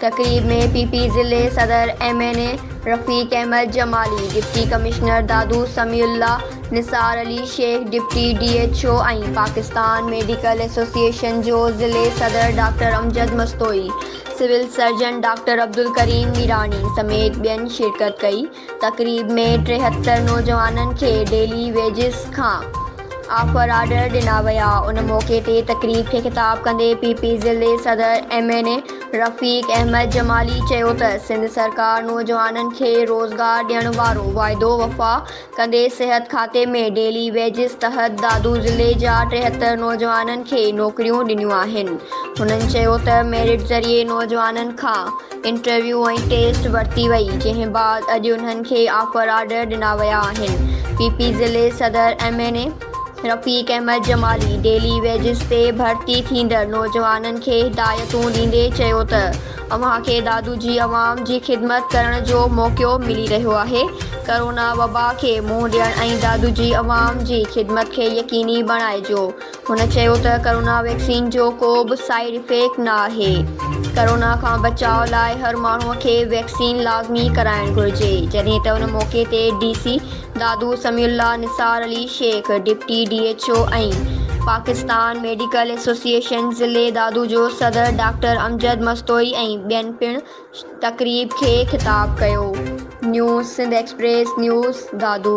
تقريب ۾ P P ضلعي صدر M N A Rafiq Ahmed Jamali, deputy commissioner Dadu Sami Ullah, Nisar Ali Shaikh, deputy D H O ۽ Pakistan medical association جو ضلعي صدر doctor Amjad Mastoi, civil surgeon doctor Abdulkarim Mirani سميت ٻين شرڪت ڪئي. تقريب ۾ ٽيهتر نوجوانن کي ڊيلي ويجز کان آفر آرڊر ڏنا ويا، ان موقعي تي تقريب کي خطاب ڪندي پي پي ضلعي صدر M N A Rafiq Ahmed Jamali چيو ته سنڌ سرڪار نوجوانن کي روزگار ڏيڻ وارو واعدو وفا ڪندي صحت کاتي ۾ ڊيلي ويجز تحت دادو ضلعي جا ٽيهتر نوجوانن کي نوڪريون ڏنيون آهن هنن چيو ته ميرٽ ذريعي نوجوانن کان انٽرويو ۽ ٽيسٽ ورتي وئي، جنهن بعد اڄ انهن کي آفر آرڊر ڏنا ويا آهن. پي پي ضلعي صدر M N A Rafiq Ahmed Jamali daily wages تي ڀرتي ٿيندڙ نوجوانن کي هدايتون ڏيندي چيو ته اوهان کي دادو جي عوام جي خدمت ڪرڻ جو موقعو ملي رهيو آهي، ڪرونا وبا کي منهن ڏيڻ ۽ دادو جي عوام جي خدمت کي يقيني بڻائجو. هن چيو ته ڪرونا ويڪسين جو ڪو به سائيڊ افيڪٽ نه آهي، ڪرونا کان بچاء لاء هر ماڻهو کي ويڪسين لازمي ڪرائڻ گهرجي، جڏهن ته ان موقعي تي D C Dadu Sami Ullah, Nisar Ali Shaikh, deputy D H O ۽ Pakistan medical association ضلعي دادو جو صدر ڊاڪٽر امجد مستوئي ۽ ٻين پڻ تقريب کي خطاب ڪيو. News Sindh express news, Dadu.